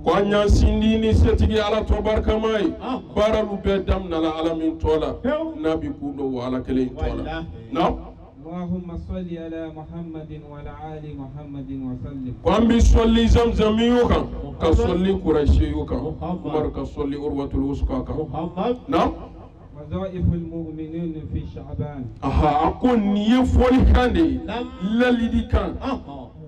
Ko an y'an sindi ni setigi ala tɔ barikama ye baaralu bɛ daminala ala min tɔ la n'a bɛ kundon ala kelen tɔ la Allahumma salli ala Muhammadin wa ala ali Muhammadin wa sallim. Ko an bɛ sɔli zamzamiyu kan ka sɔli kurasiyu kan Umaru ka sɔli urwatul wusuka kan. Naamu. Wazaiful mu'minin fi Sha'ban. Aha a ko nin ye fɔli kan de ye lali kan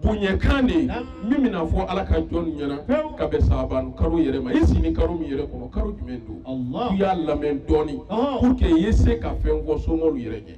bonya kan de ye min bɛna fɔ Ala ka jɔn ɲɛna ka bɛn Sha'ban karo yɛrɛ ma i siinin karo min yɛrɛ kɔnɔ karo jumɛn don? I y'a lamɛn dɔɔni pour que i ye se ka fɛn fɔ somɔɔlu yɛrɛ ɲɛ.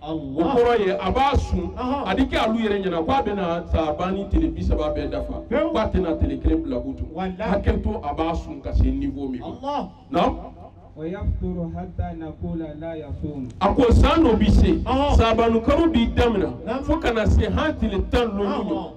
kɔrɔ ye a b'a sun a di kɛ alu yɛrɛ ɲɛna k'a bɛna sabani tile bisaba bɛɛ dafa k'a tɛna tile kelen bila butun hakɛ to a b'a sun ka se niveau min ma naamu. a ko san dɔ bi se sabanu karo bɛ damina fo ka na se han tile tan loolu.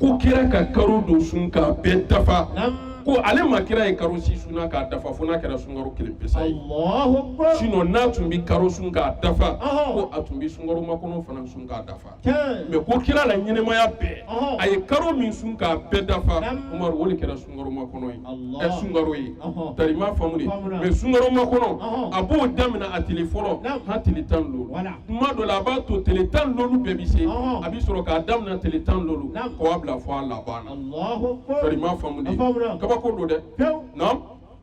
ko kira ka karo dɔ sun k'a bɛɛ dafa ko ale ma kira ye karo si sun na k'a dafa fo n'a kɛra sunkaro kelen pesa ye sinon a tun bɛ karo sun k'a dafa ko a tun bɛ sunkaro makɔnɔ fana sun k'a dafa mais ko kira la ɲɛnamaya bɛɛ a ye karo min sun k'a bɛɛ dafa umaru o de kɛra sunkaro makɔnɔ ye Allah. ɛ sunkaro ye Ɔhɔn. tari m'a faamu de Faamuna. mais sunkaro makɔnɔ Ɔhɔn. a b'o damina a tile fɔlɔ Naam. han tile tan loolu Wala. tuma dɔ la a b'a to tile tan loolu bɛɛ bɛ se Ɔhɔn. a bɛ sɔrɔ k'a damina tile tan loolu Naam. ka wa bila fo a laban na Allahu Akbar. tari m'a faamu de A faamuna. kabako lo dɛ Pewu. naam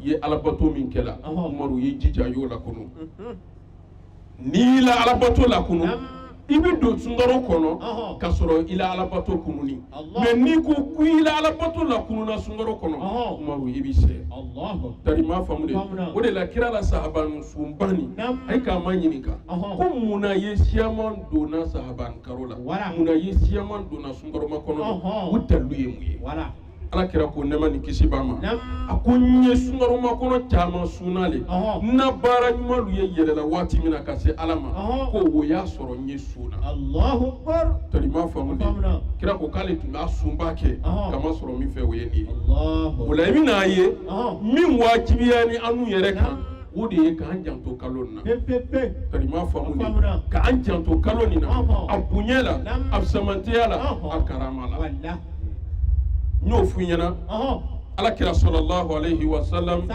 i ye alabato min kɛla umaru y'i jija y'o lakunu n'i y'i la alabato lakunu i bɛ don sunkaro kɔnɔ ka sɔrɔ i la alabato kununnin mais n'i ko ko i la alabato lakununa sunkaro kɔnɔ umaru i b'i sɛɛ tari m'a faamu de o de la kira la sahaban sunba nin ayi k'a maɲininka ko mun na ye siyaman donna sahaban karo la mun na ye siyaman donna sunkaro makɔnɔ o dalu ye mun ye ala kira ko nɛɛma ni kisi b'a ma a ko n ye sunkaro makɔnɔ caman sunna le n na baara ɲuman lu ye yɛlɛla waati min na ka se ala ma ko o y'a sɔrɔ n ye sun na tari m'a faamu de kira ko k'ale tun b'a sunba kɛ ka masɔrɔ min fɛ o ye nin ye o la i bɛn'a ye min wajibiyanin anu yɛrɛ kan o de ye k'an janto kalo na ka ma faamu ka an janto kalo nin na a bonya la a samantɛya la a karama la n y'o f'u ɲɛna ala kira sallallahu alayhi wa sallam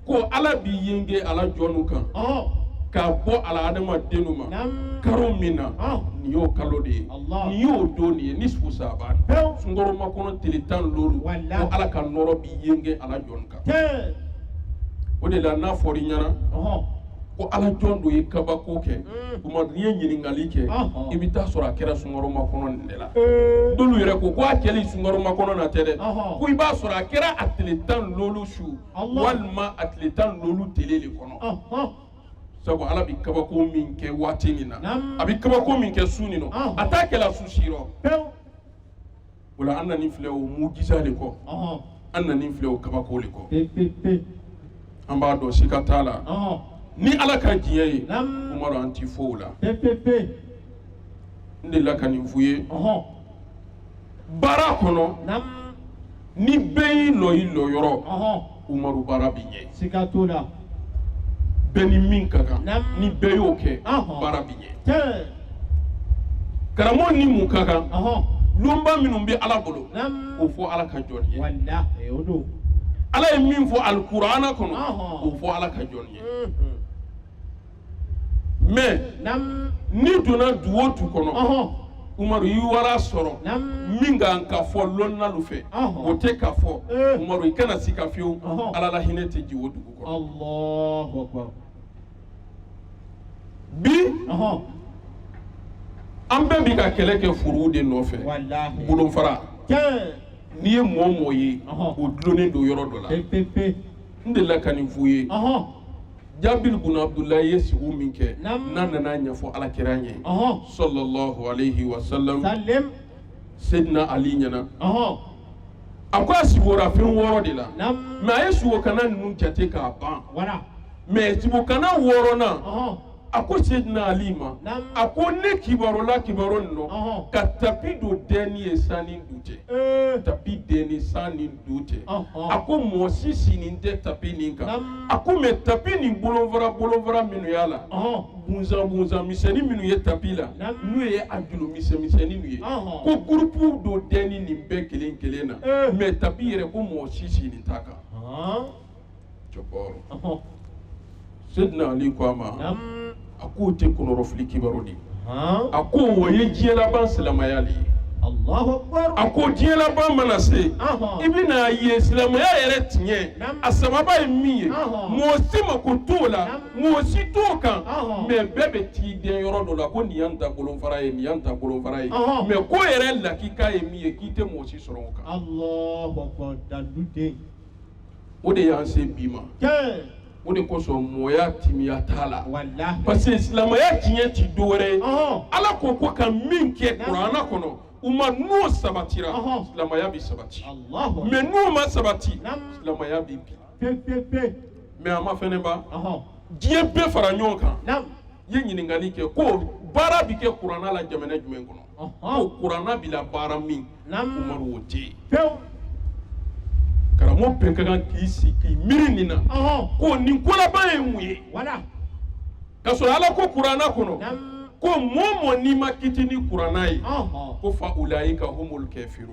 ko ala b'i yenge a la jɔnw kan ka bɔ a la adamadenw ma karo min na nin y'o kalo de ye nin y'o don de ye nisfu saban sunkaro makɔnɔ tile tan ni loolu ko ala ka nɔrɔ b'i yenge a la jɔn kan o de la n'a fɔr'i ɲɛna ko ala jɔn dɔ ye kabako kɛ Umaru n'i ye ɲininkali kɛ i bɛ taa sɔrɔ a kɛra sunkaro makɔnɔ de la dɔlu yɛrɛ ko ko a kɛli sunkaro makɔnɔ na tɛ dɛ ko i b'a sɔrɔ a kɛra a tile tan ni loolu su walima a tile tan ni loolu tile de kɔnɔ sabu ala bɛ kabako min kɛ waati min na a bɛ kabako min kɛ su nin nɔ a t'a kɛla su si o la an nani filɛ o mujisa de kɔ ɔhɔn an nani filɛ o kabako de kɔ pe pe pe an b'a dɔn sika t'a la ɔhɔn ni ala ka diɲɛ ye nam umaru an ti fo o la pe pe pe n delila ka nin f'u ye ɔhɔn baara kɔnɔ nam ni bɛɛ y'i lɔ i lɔ yɔrɔ ɔhɔn Umaru baara bi ɲɛ. Siga t'o la. Bɛɛ ni min ka kan. Naamu. Ni bɛɛ y'o kɛ. Ɔhɔn. Baara bi ɲɛ. Tiɲɛ. Karamɔgɔ ni mun ka kan. Ɔhɔn. Lonba minnu bɛ Ala bolo. Naamu. O fɔ Ala ka jɔn ye. Walahi o don. Ala ye min fɔ alikuranɛ kɔnɔ. Ɔhɔn. O fɔ Ala ka jɔn ye. Unhun. mais n'i donna du o du kɔnɔ Umaru i wara sɔrɔ min kan ka fɔ lɔnnalu fɛ o tɛ ka fɔ eh. Umaru i kana sika fewu Ala la hinɛ tɛ jigin o dugu kɔnɔ bi an bɛɛ bi ka kɛlɛ kɛ furuwu de nɔfɛ bolonfara n'i ye mɔɔ mɔɔ ye o dulonnen don yɔrɔ dɔ la n delila ka nin f'u ye. jabir bun abdulayi ye sigo min kɛ n'a nan'a ɲɛfɔ ala kira ye sallallahu alayhi wa sallam sedina ali ɲɛna a ko a sigora fɛn wɔɔrɔ de la mais a ye sugokana ninnu jate k'a ban mais sugokana wɔɔrɔnan a ko sedina ali ma a ko ne kibarola kibaru nin nɔ ka tapi dɔ dɛnni ye san ni du cɛ tapi dɛnni san ni du cɛ Ɔhɔn. a ko mɔgɔ si siinin tɛ tapi nin kan Naam. a ko mais tapi nin bolonfara bolonfara minnu y'a la Ɔhɔn. bunzan bunzan misɛnnin minnu ye tapi la Naam. n'u ye a julu misɛn misɛnnin ye Ɔhɔn. ko gurupu dɔ dɛnni nin bɛɛ kelen kelen na Eh. mais tapi yɛrɛ ko mɔgɔ si siinin t'a kan Ɔhɔn. cɛkɔrɔba sedina ali ko a ma a k'o tɛ kɔnɔrɔfili kibaru de a ko o ye diɲɛlaban silamɛya de ye a ko diɲɛlaban mana se i bɛn'a ye silamɛya yɛrɛ tiɲɛ a sababa ye min ye mɔgɔ si mako t'o la mɔgɔ si t'o kan mais bɛɛ bɛ t'i dɛn yɔrɔ dɔ la ko nin y'an ta bolonfara ye nin y'an ta bolonfara ye mais ko yɛrɛ lakika ye min ye k'i tɛ mɔgɔ si sɔrɔ o kan o de y'an se bi ma o de kosɔn mɔya timiya t'a la parce que silamɛya tiɲɛ ti dɔ wɛrɛ ye ala ko ko ka min kɛ kurana kɔnɔ umaru n'o sabatira silamɛya bɛ sabati mais n'o ma sabati silamɛya bɛ bin mais a mafɛnɛ ba diɲɛ bɛɛ fara ɲɔgɔn kan i ye ɲininkali kɛ ko baara bɛ kɛ kurana la jamana jumɛn kɔnɔ kuranna bila baara min umaru o tɛ yen karamɔgɔ bɛɛ ka kan k'i sigi k'i miiri nin na ko nin kolaban ye mun ye ka sɔrɔ ala ko kuranna kɔnɔ ko mɔɔ mɔɔ n'i ma kiti ni kuranna ye ko fa ulayika humul kafiru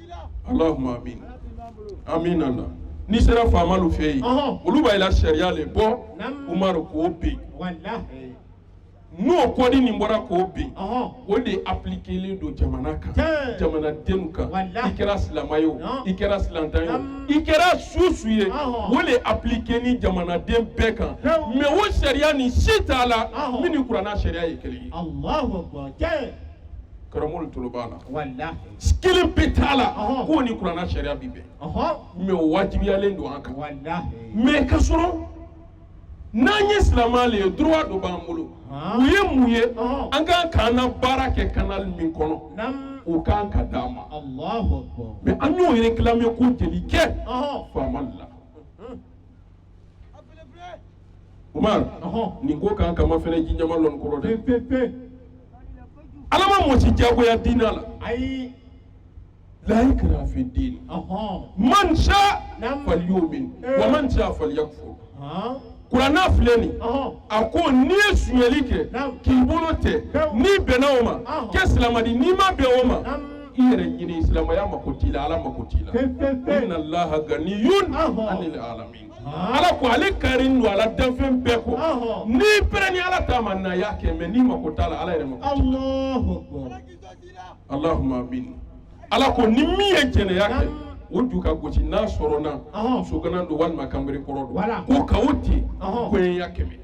allahumma amin amin ala n'i sera faamalu fɛ yen olu b'a la sariya le bɔ umaru k'o bin n'o code nin bɔra k'o bin o de appliquélen don jamana kan jamana denw kan i kɛra silamɛ ye i kɛra silantan ye i kɛra susu ye o de appliqué ni jamanaden bɛɛ kan mais o sariya nin si t'a la min ni kuranna sariya ye kelen ye karamɔgɔ tolo b'a la walahi kelen pe t'a la Ɔhɔn. k'o ni kuranna sariya bi bɛn ɔhɔn mais o wajibiyalen don an kan walahi mais ka sɔrɔ n'an ye silamɛ le ye droit dɔ b'an bolo Ɔhɔn. o ye mun ye Ɔhɔn. an kan k'an na baara kɛ canal min kɔnɔ nam o kan ka d'an ma allahu akbar mais an y'o réclamer ko jeli kɛ ɔhɔn faama la umaru nin ko kan ka mafɛnɛ ji ɲama lɔn kɔrɔ dɛ pepepe ala ma mɔɔ si jagoya diina la ayi la ikraha fi diini man sha falyumin wa man sha falyakfur kuranna filɛ nin a ko n'i ye sunyali kɛ k'i bolo tɛ n'i bɛnna o ma kɛ silama di n'i ma bɛn o ma i yɛrɛ ɲini silamɛya mako t'i la ala mako t'i la inna allaha ganiyun anil alamin ala ko ale karin don a la danfɛn bɛɛ kɔ n'i prêt ni ala ta ma na y'a kɛ mais n'i mako t'a la ala yɛrɛ mako t'i la allahumma amin ala ko ni min ye jɛnɛya kɛ o ju ka gosi n'a sɔrɔna soganan don walima kanbere kɔrɔ don ko ka o ten koɲɛya kɛmɛ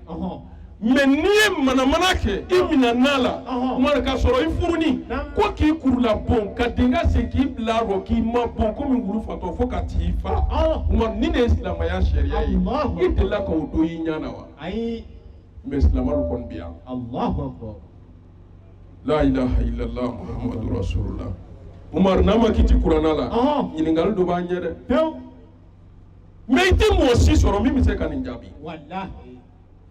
mais n'i ye manamana kɛ i minɛn'a la umaru k'a sɔrɔ i furuni ko k'i kurula bon ka denga sen k'i bila rɔ k'i mabon komi wulu fatɔ fo ka t'i fa umaru nin ne ye silamɛya sariya ye i delila ka o don i ɲɛ na wa mais silamɛw kɔni bɛ yan la ilaha illallah muhammadu rasulullah umaru n'an ma kiti kuranna la ɲininkali dɔ b'an ɲɛ dɛ mais i tɛ mɔgɔ si sɔrɔ min bɛ se ka nin jaabi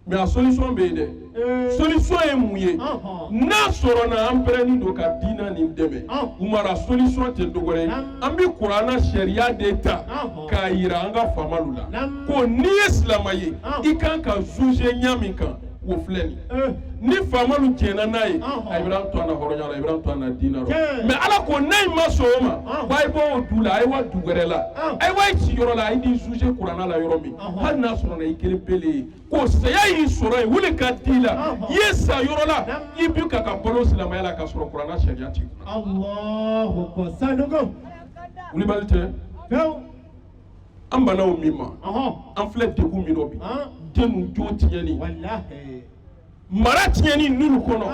mɛ a solisɔn bɛ yen dɛ eh. solisɔn ye mun ye n'a sɔrɔ na an pɛrɛnnen don ka diina nin dɛmɛ Umaru a solisɔn tɛ dɔ wɛrɛ ye an bɛ kurana sariya de ta k'a yira an ka faamalu la ko n'i ye silama ye i kan ka zuze ɲa min kan o filɛ nin eh. ni faamalu diɲɛna n'a ye a ye bɛn'an to an na hɔrɔnya la a ye bɛn'an to an na diina la mɛ ala ko n'a ye ma sɔn o ma ko a ye bɔ o du la a ye wa du wɛrɛ la a ye wa i sigiyɔrɔ la a ye d'i zuze kurana la yɔrɔ min hali n'a sɔrɔ i kelen pele ye ko saya y'i sɔrɔ yen o le ka di la i ye sa yɔrɔ la i bi ka ka balo silamɛya la ka sɔrɔ kurana sariya t'i kunna wuliba le tɛ an banna o min ma an filɛ degun min dɔ bi denw jo tiɲɛni mara tiɲɛni ninnu kɔnɔ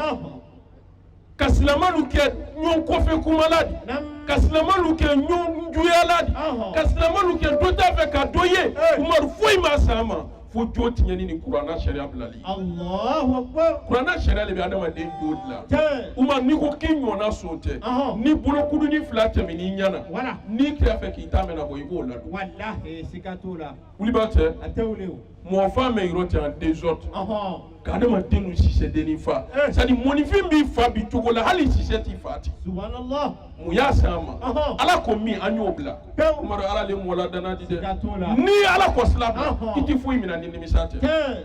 ka silamɛlu kɛ ɲɔgɔn kɔfɛ kumala di Naam. ka silamɛlu kɛ ɲɔgɔn juyala di Ɔhɔn. ka silamɛlu kɛ dɔ t'a fɛ ka dɔ ye Ee. umaru foyi m'a s'an ma fo jo tiɲɛni ni kuranna sariya bilali Allahu akbar. kuranna sariya de bɛ adamaden jo dilan Tiɲɛ. umaru n'i ko k'i ɲɔgɔnna son tɛ Ɔhɔn. ni bolokuduni fila tɛmɛn'i ɲɛna Wala. n'i kɛr'a fɛ k'i ta mɛn nabɔ i b'o ladon Walahi siga t'o la. wuliba tɛ A tɛ wuli o. mɔgɔ fa mɛ yɔrɔ tɛ an dezɔridi ka adamadennu sise dennin fa eh. sɛtadi mɔnifin b'i fa bi cogo la hali sise t'i fa ten mun y'a se an ma ala ko min an y'o bila Umaru ala le mɔgɔ ladanna di dɛ ni ala kɔsin i la i tɛ foyi minɛ ni nimisa tɛ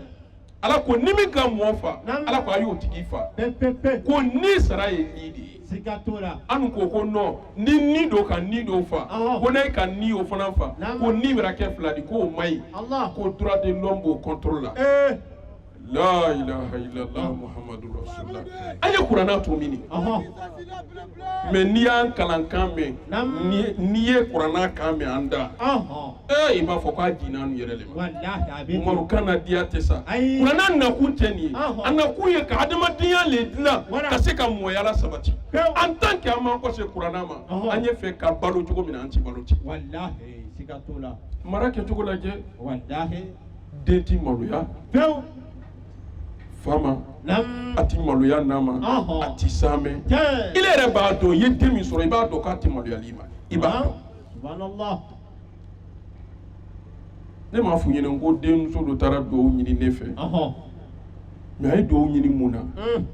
ala ko ni min ka mɔgɔ fa ala ko a y'o tigi fa ko ni sara ye ni de ye siga t'o la an ko ko nɔn ni ni dɔ ka ni dɔ fa ko n'a ye ka ni o fana fa ko ni bɛna kɛ fila di k'o man ɲi ko duruwa de lɔmu b'o kɔntoro la la ilaha illallah muhammadu rasulullah an ye kurana to mini mɛ n'i y'an kalan kan mɛn n'i ye kurana kan mɛn an da ee i b'a fɔ k'a jiginna an yɛrɛ de Umaru kan na diya tɛ sa kuranna nakun tɛ nin ye a nakun ye ka adamadenya le dilan ka se ka mɔya lasabati an tan kɛ an m'an kɔse kuranna ma an y'a fɛ ka balo cogo min na an ti balo ten mara kɛcogo lajɛ den ti maloya fa ma a ti maloya na ma a ti saamɛ i yɛrɛ b'a dɔn i ye den min sɔrɔ i b'a dɔn k'a ti maloyal'i ma i b'a dɔn ne m'a f'u ɲɛna ko denmuso dɔ taara dugawu ɲini ne fɛ mɛ a ye dugawu ɲini mun na hmm.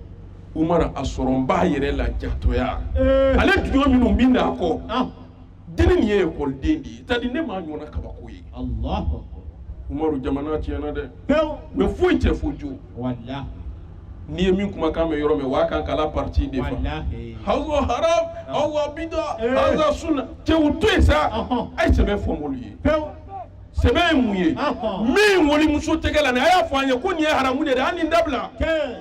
Umaru a sɔrɔnba yɛrɛ la jatɔya eh. ale dugawu minnu bɛ n'a kɔ ah. dennin nin ye ekɔliden de ye sɛtadi ne m'a ɲɔgɔnna kabako ye umaru jamana tiɲɛna dɛ mɛ foyi tɛ fo jo n'i ye min kumakan mɛn yɔrɔ min o b'a kan k'a la partie de fɔ walahi haza haram haza bida Eh. haza sunna cɛ u to yen sa Ɔhɔn. a ye sɛbɛ fɔ mɔɔlu ye pewu sɛbɛ ye mun ye Ɔhɔn. min walimuso tɛgɛ la nin a y'a fɔ an ye ko nin ye haramu de ye hali nin dabila kɛ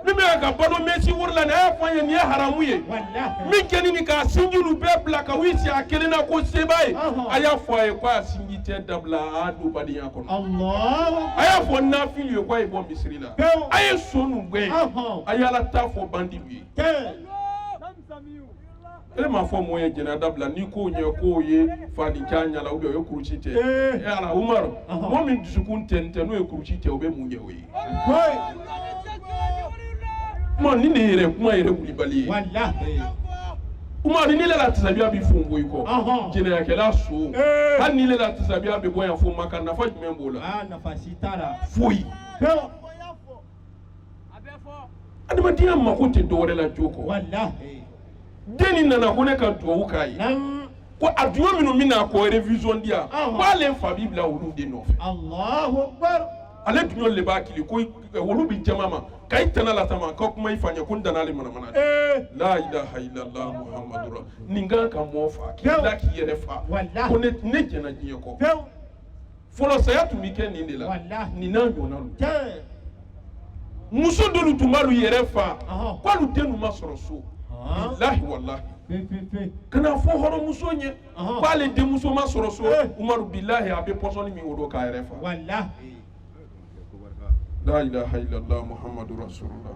min bɛ ka balo mɛsi wori la nin a y'a fɔ an ye nin ye haramu ye walahi min kɛni ni k'a sinjinu bɛɛ bila ka wuli si a kelen na ko seba ye Ɔhɔn. a y'a fɔ a ye ko a sinjitɛɛ dabila a don badenya kɔnɔ Allahu a y'a fɔ nafilu ye ko a ye bɔ misiri la a ye sonnu gɛn a ye ala ta fɔ bandilu ye e m'a fɔ mɔgɔ ye jɛnɛya dabila n'i ko ɲɛ k'o ye fani janya la o ye kurusi tɛɛ e ala umaru mɔgɔ min dusukun tɛ tɛ n'o ye kurusi tɛɛ o bɛ mun ɲɛ o ye kuma ni ne yɛrɛ kuma yɛrɛ wulibali ye umaru n'ile la tasabiya bɛ fofo i kɔ jɛnɛyakɛla son hali n'ile la tasabiya bɛ bɔ yan fo Maka nafa jumɛn b'o la foyi adamadenya mako tɛ dɔwɛrɛ la jogo kɔ den nin nana ko ne ka dugawu k'a ye ko a duɲɔ minnu bɛ na ko révision di yan ko ale fa b'i bila olu de nɔfɛ ale duɲɔ le b'a kili ko wolu bi jama ma ka i tana latama ka kuma i fa ɲɛ ko n danna ale manamana de la ilaha illallah muhammadu ra nin kan ka mɔɔ fa k'i la k'i yɛrɛ fa ko ne jɛnna diɲɛ kɔ fɔlɔ saya tun bɛ kɛ nin de la Walahi. nin n'a ɲɔgɔnna don Tiɲɛ. muso dɔlu tun b'alu yɛrɛ fa Ɔhɔn. k'alu dennu ma sɔrɔ so Ɔhɔn. bilahi walahi Fe fe fe. ka n'a fɔ hɔrɔnmuso ɲɛ Ɔhɔn. k'ale denmuso ma sɔrɔ so Eh. umaru bilahi a bɛ pɔsɔni min o don k'a yɛrɛ fa Walahi. la ilaha illallah muhammadu rasulullah